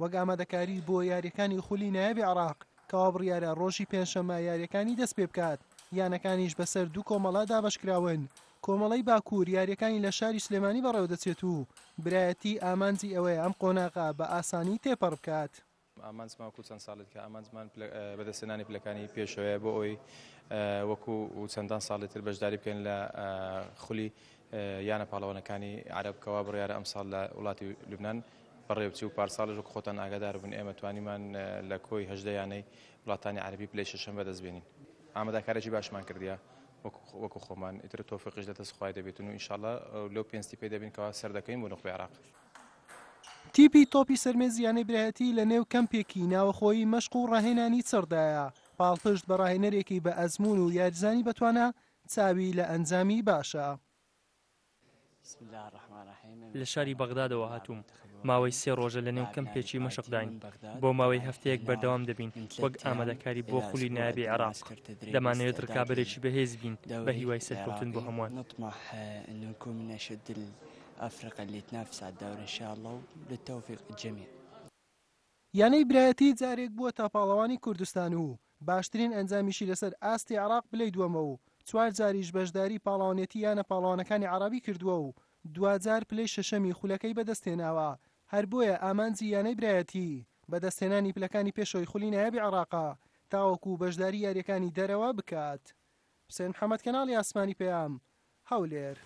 وەک ئامادەکاری بۆ یارییەکانی خولی نایابی عێراق کەوا بڕیارە ڕۆژی پێنجشەممە یارییەکانی دەستپێبکات، یانەکانیش بەسەر دوو کۆمەڵە دابەشکراون، کۆمەڵەی باکوور یارییەکانی لە شاری سلێمانی بەڕێوەدەچێت و برایەتی ئامانجی ئەوەیە ئەم قۆناغە بە ئاسانی تێپەڕبکات. ئامانجمان وەکو چەند ساڵێک ئامانجمان بەدەستهێنانی پلەکانی پێشەوەیە بۆ ئەوەی وەکو چەندان ساڵی تر بەشداری بکەین لە خولی یانە پاڵەوانەکانی عەرەب کەوا بڕیارە ئەمساڵ لە وڵاتی لوبنان بەڕێوە چوو، پارساڵیش وەک خۆتان ئاگادار بوون ئێمە توانیمان لە کۆی هەژدە یانەی وڵاتانی عەرەبی پلەی شەشەم بەدەست بێنین. ئامادەکاریی باشمان کردیە وەکو خۆمان، ئیتر تۆفیقیش لە دەست خوای دەبێتن و ئینشاڵڵا لەو پێنستی پێ دەبین کەوا سەردەکەوین بۆ نوخبەی عێراق. تیپی تۆپی سەرمێز یانەی برایەتی لە نێو کەمپێکی ناوەخۆیی مەشق و ڕاهێنانی چڕدایە، پاڵپشت بە ڕاهێنەرێکی بە ئەزموون و یاریزانی بەتوانا، چاوی لە ئەنجامی باشە. لە شاری بەغدادەوە هاتووم ماوەی سێ ڕۆژە لەنێو کەمپێکی مەشقداین بۆ ماوەی هەفتەیەک بەردەوام دەبین وەک ئامادەکاری بۆ خولی نایابی عێراق دەمانەوێت ڕکابەرێکی بەهێز بین بە هیوای سەرکەوتن بۆ هەمووان ئەفرەقە لێت نافسات داورە شاڵە و لە تەوفیق جەمی یانەی برایەتی جارێک بووەتە پاڵەوانی کوردستان و باشترین ئەنجامیشی لەسەر ئاستی عێراق پلەی دووەمە و چوار جاریش بەشداری پاڵەوانێتی یانە پاڵەوانەکانی عەرەبی کردووە و دواجار پلەی شەشەمی خولەکەی بەدەستهێناوە، هەر بۆیە ئامانجی یانەی برایەتی بەدەستهێنانی پلەکانی پێشەوەی خولی نایابی عێراقە تاوەکو بەشداری یارییەکانی دەرەوە بکات. حوسێن محەمەد کەناڵی ئاسمانی پەیام، هەولێر.